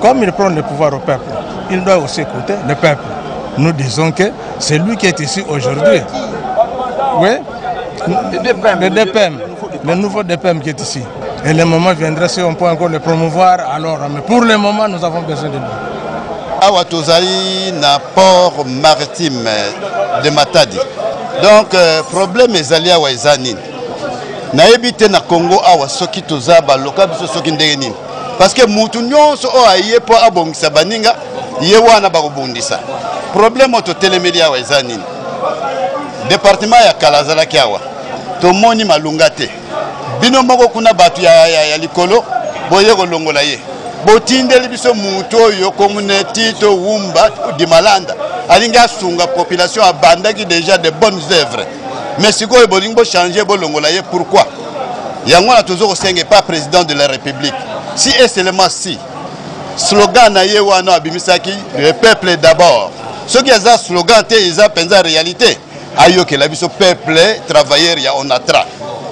Comme il prend le pouvoir au peuple, il doit aussi écouter le peuple. Nous disons que c'est lui qui est ici aujourd'hui. Oui, le DPM, le, DPM, le nouveau DPM qui est ici. Et le moment viendra si on peut encore le promouvoir, alors, mais pour le moment, nous avons besoin de lui. awa tozali na port maritime de matadi donc euh, problème ezali awa eza nini nayebi te na congo awa soki toza baloka biso soki ndenge nini parce que mutu nyonso oyo aye mpo abongisa baninga ye wana bakobundisa problème oyo totelemeli awa eza nini departement ya kala azalaki awa tomoni malunga te bino moko kuna bato ya, ya, ya likolo boye kolongola ye botindeli biso moto oyo komune tito wumba dimalanda alingi asunga population abandaki déjà de bonnes œuvres mais sikoyo bolingi bochange bolongola ye pourquoi yango wana tozo kosenga epa président de la république si et seulement si slogan na ye wana abimisaki le peuple d'abord soki aza slogan te eza mpenza réalité ayokela biso peuple travailleur ya onatra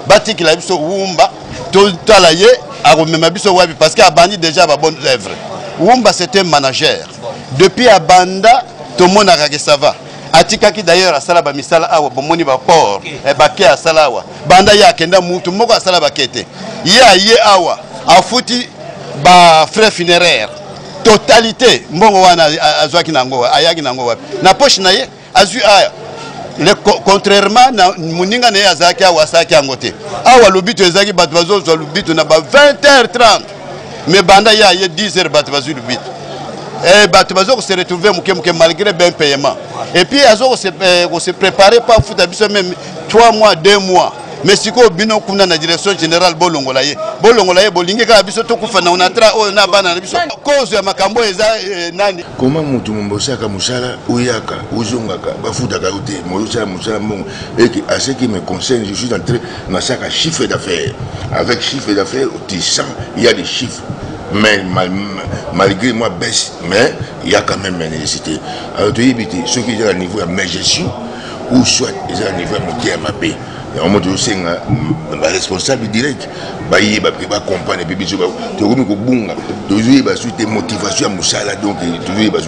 batikela biso wumba totala ye akomema biso wapi parce que abandi déjà ba bonne œuvre wumba c'est un manager depuis abanda tomonaka ke ça va atikaki d'ailleurs asala bamisala awa bomoni baport okay. eh, bake asala awa banda ye akenda mutu moko asala bake te ye aye awa afuti bafrais funéraire totalité mbongo wana azwaki nango ayaki nango wapi na poche na ye azwi aya le contrairement na moninga na ye azalaki awa asalaki yango te awa lobito ezalaki bato bazozwa lobito na ba 20 h 30 mais banda ye aye 10 heures bato bazwi lubita eh, bato bazo kose retrouve moke moke malgré ben payement et puis azo kose eh, prépare pa futa biso meme 3 mois 2 mois mais sikoyo bino kuna na direction générale bolongola ye bolongola ye bolingi kaka biso tokufa na onatra oyo na bana na biso kozo ya makambo oyo eza eh, nani koma motu mombosaka mosala oyaka ozongaka bafutaka yo te moyosala mosala mbongo eke aseki me conseil je suis entré na saka chiffre d'affaires avec chiffre d'affaires tu sens il y a des chiffres mais mal, malgré moi baisse mais il y a quand même nécessité alors tu te ceux qui sont à niveau ya majestion ou soit ils à niveau ya moke ya mabe yango tozosenga baresponsable direct bayeba mpe bacomprendre mpe biso tokomi kobunga tozoyeba su te motivation ya mosala donc tozoyeba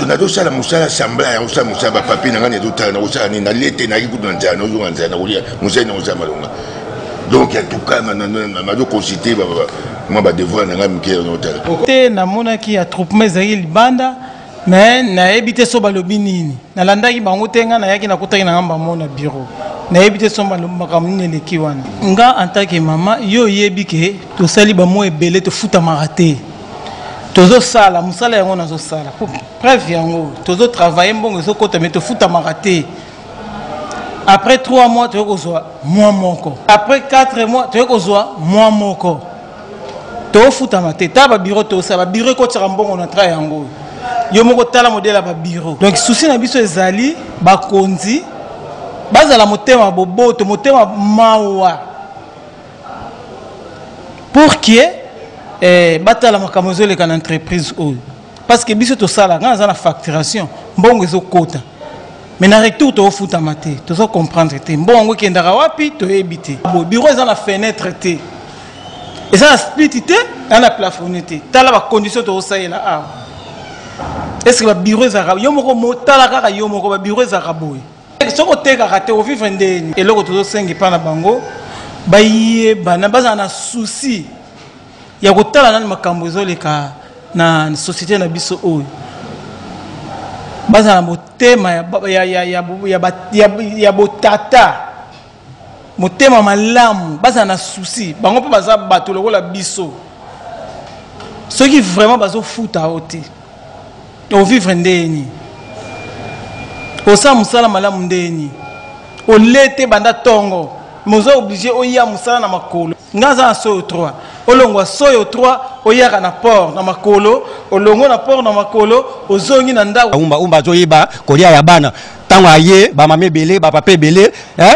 nazosala mosala sembla ya kosala mosala bapapie na ngai nazotala nakosala nini nalie te nayaki kutu na nzala nazonga na nzala nakolia mosali nakosala malonga donc en tout cas nazo consulter mwa badevoir na ngai moke nazotala te namonaki attroupement ezalaki libanda me nayebi te so balobi nini nalandaki bango te ngai nayaki nakutaki na ngai bango na biro nayebi te so makambo nini eleki wana nga en tant que mama yo oyebi ke tosali bamwa ebele tofutamaka te tozosala mosala yango nazosala po preuve yango tozotravaille mbongo ezokota me tofutamaka te après 3 mois toyei kozwa mwa moko après 4 mois toyei kozwa mwa moko tofutama te ta babiro tosala babiro ekotisaka mbongo na tra yango oyo yo moko tala modele ya babiro donc susi na biso ezali bakonzi bazala motema boboto motema mawa pour que eh, batala makambo ezoleka na entreprise oyo parce que biso tosala ngai naza na facturation mbongo ezokota mais na retour tokofutama te tozo comprendre te mbongo yango ekendaka wapi toyebi te bo bureau eza na fenêtre te eza na split te eza na plafonne te tala bacondition tokosalela awa est ce que babureau ezalaka yo moko motala kaka yo moko babureau ezalaka boye soki otekaka te ovivre nde eloko tozosenga epai na bango bayebana bazala na souci ya kotala nani makambo ezoleka na société na biso oyo bazala na motema ya botata motema malamu bazala na souci bango mpe baza bato lokola biso soki vraiment bazofuta yo te ovivre ndenge nini osala mosala malamu ndenge nini olete banda ntongo mais oza oblige oya mosala na makolo nga aza na soyo 3 olongwa soyo 3 oyaka na port na makolo olongo na port na makolo ozongi na ndako umba umba azoyeba kolia ya bana ntango aye bamama ebele bapapa ebele eh,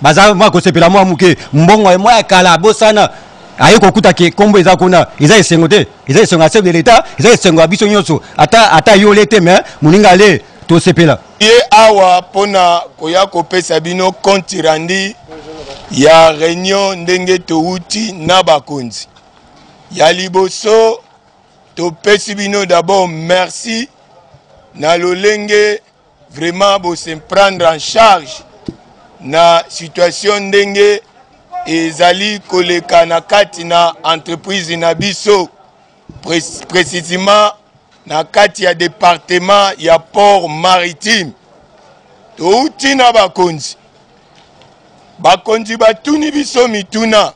baza mwa kosepela mwa moke mbongo mwa ya kala abosana aye kokuta ke nkombo eza kuna eza esengo te eza esengo ya chef de l'etat eza esengo ya biso nyonso ata ata yole te me moninga le tosepela ye awa mpo na koya kopesa bino compte rendu ya reunion ndenge towuti na bakonzi ya liboso topesi bino d'abord merci na lolenge vraiment bose prendre en charge na situation ndenge ezali koleka na kati na entreprise na biso precisement na kati ya departement ya port maritime touti na bakonzi bakonzi batuni biso mituna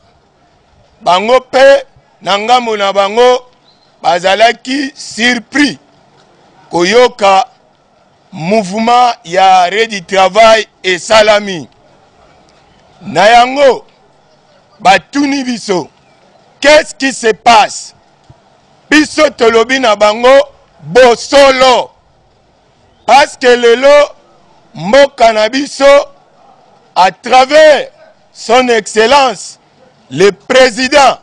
bango mpe na ngambo na bango bazalaki surpris koyoka mouvement ya arret du travail esalami na yango batuni biso qu'est ce qui se passe biso tolobi na bango bosolo parce que lelo mboka na biso à travers son excellence le président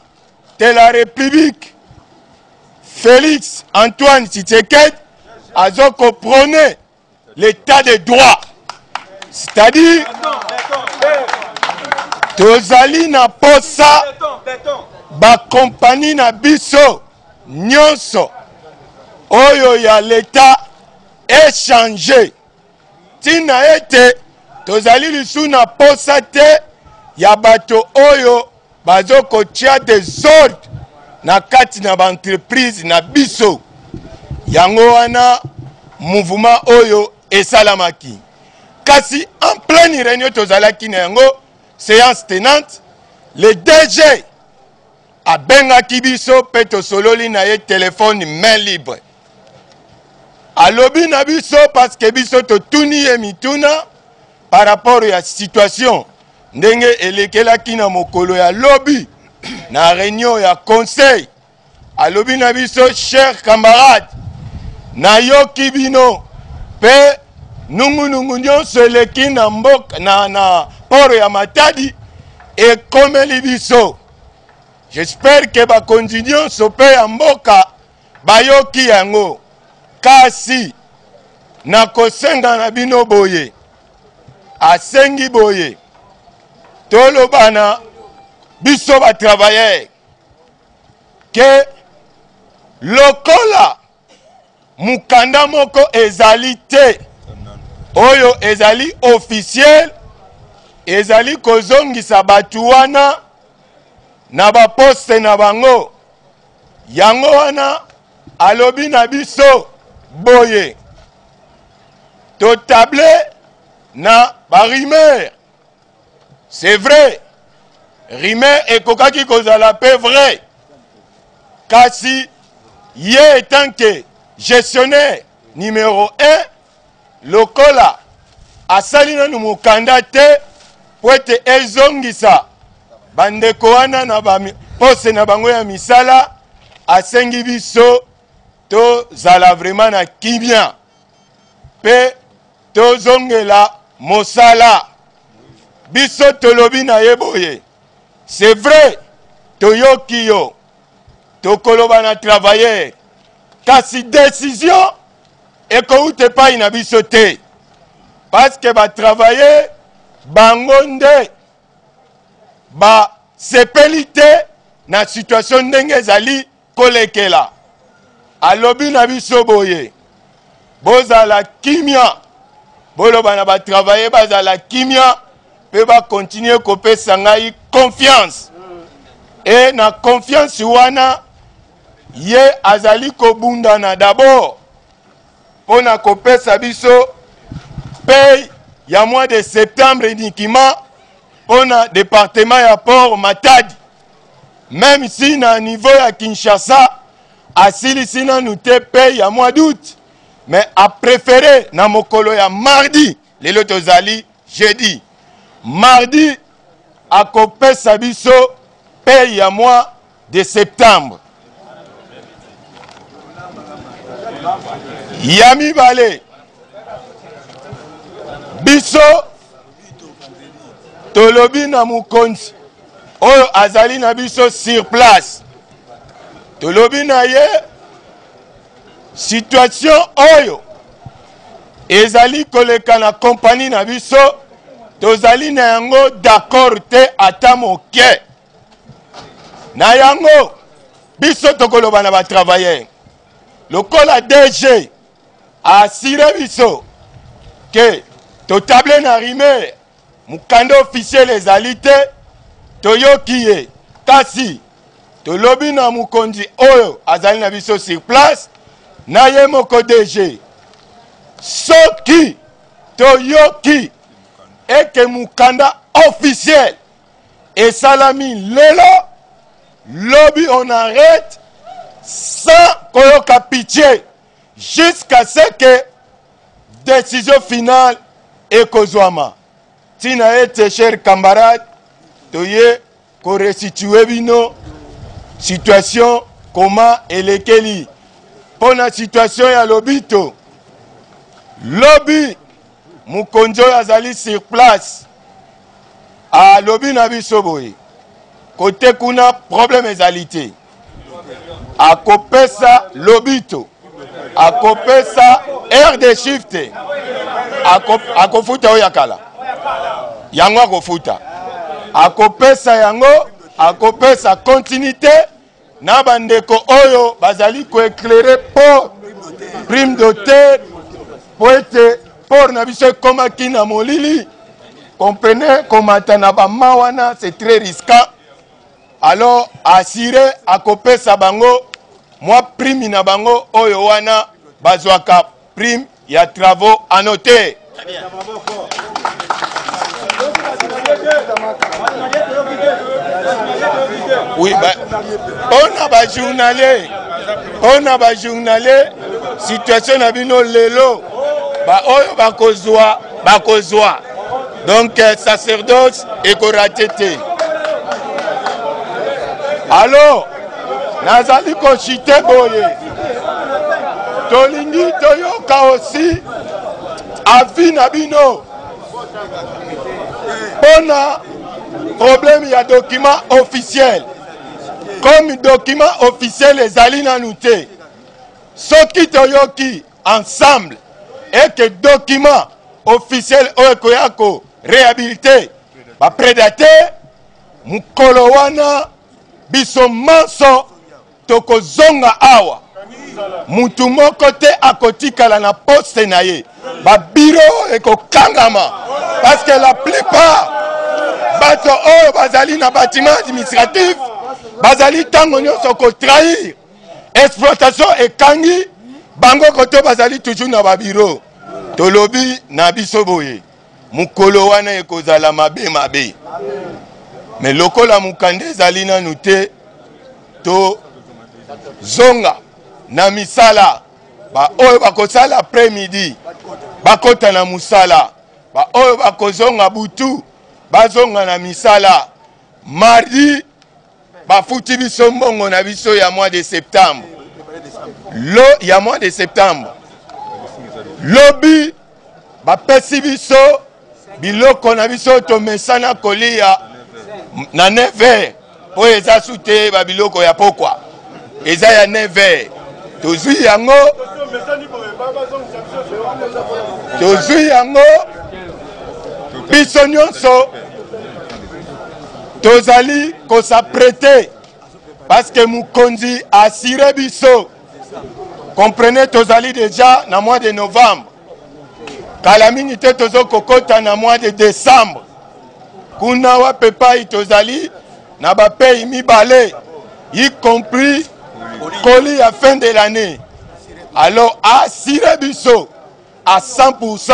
de la République, Félix Antoine Tshisekedi, a prôné l'état de droit. C'est-à-dire, tozali na posa bakompani na biso nyonso oyo ya leta echange ntina ete tozali lisusu na mposa te ya bato oyo bazokotya desordre na kati na baentreprise na biso yango wana mouvema oyo esalamaki kasi en pleine réunion tozalaki na yango séance tenante le dg abengaki biso mpe tosololi na ye telefone main libre alobi na biso parceke biso totuni ye mituna par rapport ya situation ndenge elekelaki na mokolo ya lobi na reunion ya conseil alobi na biso cher camarade nayoki bino mpe nungunungu nyonso eleki na mboka na, na poro ya matadi ekomeli biso J'espère que bakonzi nyonso mpe ya mboka bayoki yango, kasi nakosenga na bino boye, asengi boye tolobana biso ba travailleurs que lokola mokanda moko ezali te oyo ezali officiel ezali kozongisa bato wana na baposte na bango yango wana alobi na biso boye totable na barumeur C'est vrai, rumeur ekokaki kozala pe vrai, kasi ye etant que gestionnaire numero 1 lokola asali nanu mokanda te mpo ete ezongisa bandeko wana na bapose na bango ya misala asengi biso tozala vraiment na kimia mpe tozongela mosala biso tolobi na ye boye c'est vrai toyoki yo tokoloba na travailleur kasi décision ekowuta epai na biso te parceke batravailleur bango nde basepeli te na situation ndenge ezali kolekela alobi na biso boye bozala kimia boloba na batravaye bazala kimia mpe bakontinue kopesa ngai confiance e na confiance wana ye azali kobundana dabord mpo na kopesa biso pay ya mois de septembre unikima mpo na departement ya port matadi meme si na niveau ya kinshasa asilisi nanu te pay ya mois d'août mais aprefere na mokolo ya mardi lelo tozali jeudi mardi akopesa biso pay ya mois de septembre ya mibale biso tolobi na mokonzi oyo azali na biso sur place tolobi na ye situation oyo ezali koleka na kompani na biso tozali na yango d'accord te ata moke na yango biso tokoloba na batravailleur lokola dg asire biso ke totable na rimer mokanda officiel ezali te toyoki ye kasi tolobi na mokonzi oyo azali na biso sur place na ye moko dg soki toyoki ete mokanda officiel esalami lelo lobi on arrête sans koyoka pitie Jusqu'à ce que decision finale ekozwama. Ntina ete cher camarade toye ko restituer bino situation koma elekeli mpo na situation ya lobito lobi Mokonzi oyo azali sur place alobi na biso boye kote kuna problème ezali te akopesa lobito akopesa aire de chiffre te akofuta oyo ya kala yango akofuta akopesa yango akopesa continuité na bandeko oyo bazali koeklere port prime doter mpo ete port na biso ekomaki na molili comprene komata na bama wana c'est très risquant alors asire akopesa bango mwa prime na bango oyo wana bazwaka prime ya travaux à noter oui ba ona ba journalier ona ba journalier situation na bino lelo ba oyo bakozwa bakozwa donc euh, sacerdoce ekorate te alo nazali kosite boye tolingi toyoka osi avi na bino mpo na problème ya document officiel comme document officiel ezali nanu te soki toyoki ensemble eke document officiel oyo ekoya ko réhabilite bapredate mokolo wana Biso manso tokozonga awa. Mutu moko te akotikala na poste na ye. Ba bureau ekokangama parce que la plupart bato oyo bazali na bâtiment administratif bazali ntango nyonso ko trahir exploitation ekangi bango koto bazali toujours na ba bureau. Tolobi na biso boye. Mokolo wana ekozala mabe mabe. Me lokola mokanda ezali nanu te, tozonga na misala. Baoyo bakosala après midi bakota na mosala, baoyo bakozonga butu bazonga na misala mardi Bafuti biso mbongo na biso ya mois de septembre. Lo ya mois de septembre. Lobi bapesi biso biloko na biso tomesana kolia na 9 heures oyo eza su te babiloko ya pokwa eza ya neve tozwi yango tozwi yango biso nyonso tozali kosaprete parceke mokonzi asire biso comprenez tozali deja na mois de novembre kala mingi te tozokokota na mois de décembre Kuna wapi epai tozali na ba pays mibale y compris colis ya fin de l'année alors asire biso à 100%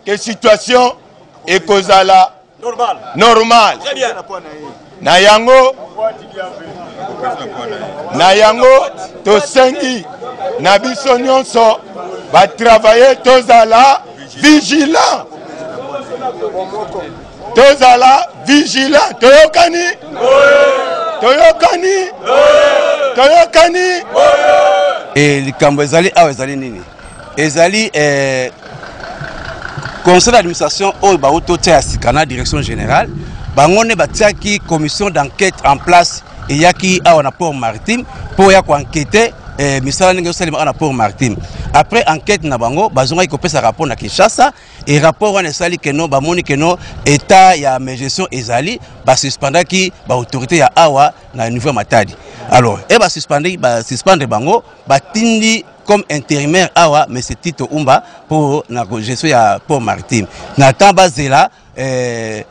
que situation ekozala normal, normal. Na yango, na yango tosengi na biso nyonso batravaye tozala vigilant tozala vigilant toyokani toyokani toyokani e likambo ezali awa ezali nini ezali eh, conseil d'administration oyo bauti otia ya sika na direction générale bango nde batiaki commission d'enquête en place eyaki awa na port maritime mpo ya koankete eh, misala ndenge ezosalema awa na port maritime après enquête na bango bazongaki kopesa rapport na kinshasa e rapport wana esali keno bamoni keno état ya magestion ezali basuspendaki baautorité ya awa na niveau ya matadi alors e basuspendaki basuspendre bango batindi comme intérimaire awa monsieur Tito Umba pour na gestion ya Port Maritime na temps bazela euh,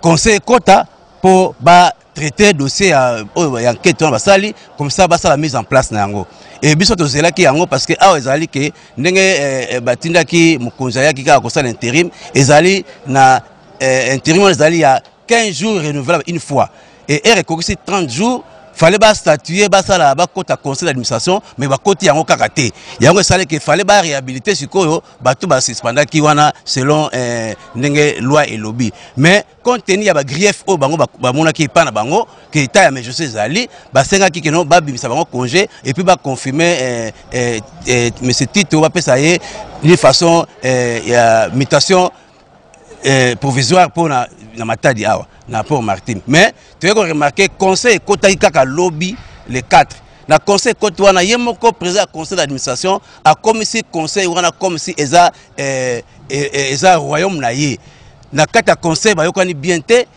conseil kota pour ba traiter dossier ya oyo ya enquête wana basali comme ça basala mise en place na yango e biso tozelaki yango parce que awa ezali ke ndenge eh, eh, batindaki mokonzi ayaki kaka kosala interim ezali na eh, interim wana ezali ya 15 jours renouvelable une fois et heure ekokisi 30 jours fallait ba statuer basala bakota conseil d'administration mais bakoti yango kaka te yango esalaki fallait ba réhabiliter sikoyo bato basuspendaki wana selon eh, ndenge loi elobi mais compte tenu ya bagrief oyo bango bamonaki epai na bango ke etat ya majorité ezali basengaki keno babimisa bango congé epuis baconfirme eh, eh, eh, monsieur tito bapesa ye d'une façon eh, ya mutation eh, provisoire mpo na, na matadi awa na port martin mais toyei koremarke conseil ekotaki kaka lobi le 4 na conseil ekoti wana ye moko président ya conseil d'administration akomisi conseil wana comme si eza, eh, eh, eh, eza royaume na ye na kati ya conseil bayokani bien te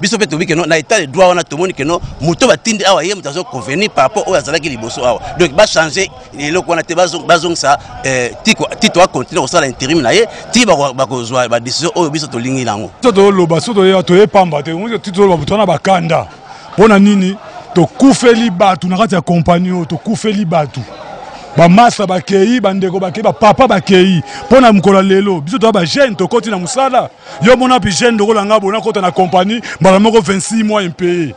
biso mpe tobi keno na état de droit wana tomoni keno moto batindi awa ye moto azo convenir par rapport oyo azalaki liboso awa donc bachange eloko wana te bazongisa eh, tito acontinue kosala interim na ye ti bakozwa badécision oyo biso tolingi nango so toloba so toye pamba te ti toloba moto wana bakanda mpo na nini tokufeli bato na kati ya kompani oyo tokufeli bato bamasa bakei bandeko bakei bapapa bakei mpo na mokolo ya lelo biso toya bajeune tokoti na mosala yo mona pi jeune lokola nga bona kota na compagnie mbala moko 26 mois impayé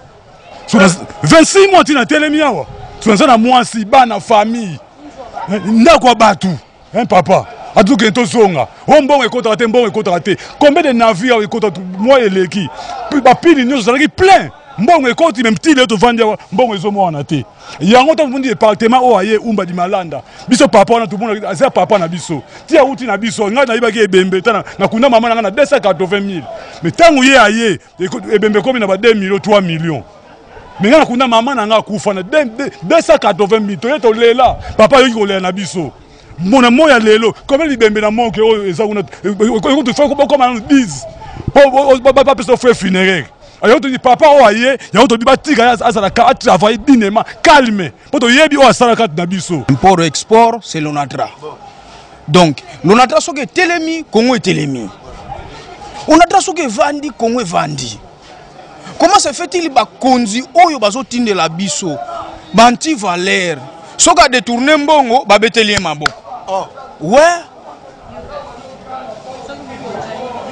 26 mois tina telemi awa sonaza na mwasi bana famille eh, ndako ya bato hein papa atukende tozonga o oh, mbongo ekotaka te mbongo ekotaka te combien de navire awa ekota mwa eleki bapini nyonso ezalaki plein mbongo ekoti me mtile tovandi awa mbongo ezomoana te yango ntango tomondi departement oyo aye umba dimalanda biso papa wana tomona aza papa na biso ti awuti na biso ngai nayebaki ebembe ta nakunda mama na ngai na 280 000 mais ntango ye aye ebembe ekomi na ba 2 million 3 million me ngai nakunda mama na ngai akufa na 280 000 toye tolela papa ayoki kolela na biso mona moya lelo koma libembe na moke oyo eza kuna ekotufa bokoma nano 10 bapesa frais funéraire yango toyini papa oyo aye yango tobi batika azalaka atravaille dinema calme mpo toyebi oyo asala kati na biso import export c'est lonatra donc lonatra soki etelemi kongo etelemi onatra soki evandi kongo evandi comment se fait-il bakonzi oyo bazotindela biso banti valeur soki adetourne mbongo babeteli ye maboko oh. we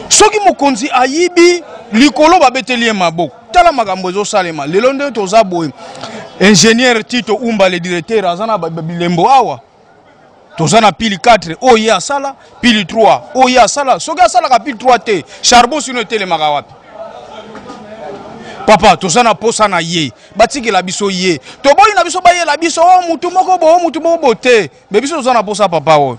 soki mokonzi ayibi likolo babeteli ye maboko tala makambo ezosalema lelo nde toza boye ingénieur tito umba le directeur aza na bilembo awa toza na pili 4 oyo ye asala pili 3 oyo ye asala soki asalaka pili 3 te charbon sino etelemaka wapi papa toza na posa na ye batikela biso ye toboyi na biso bayela biso o oh, mutu moko bo o oh, mutu moko bo te me biso toza na posa papa oyo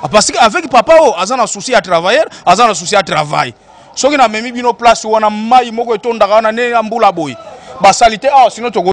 ah, parce que avec papa oyo aza na souci ya travailleur aza na souci ya travail soki namemi bino place wana mai moko etondaka wana nde ya mbula boye basali te awa ah, sino toko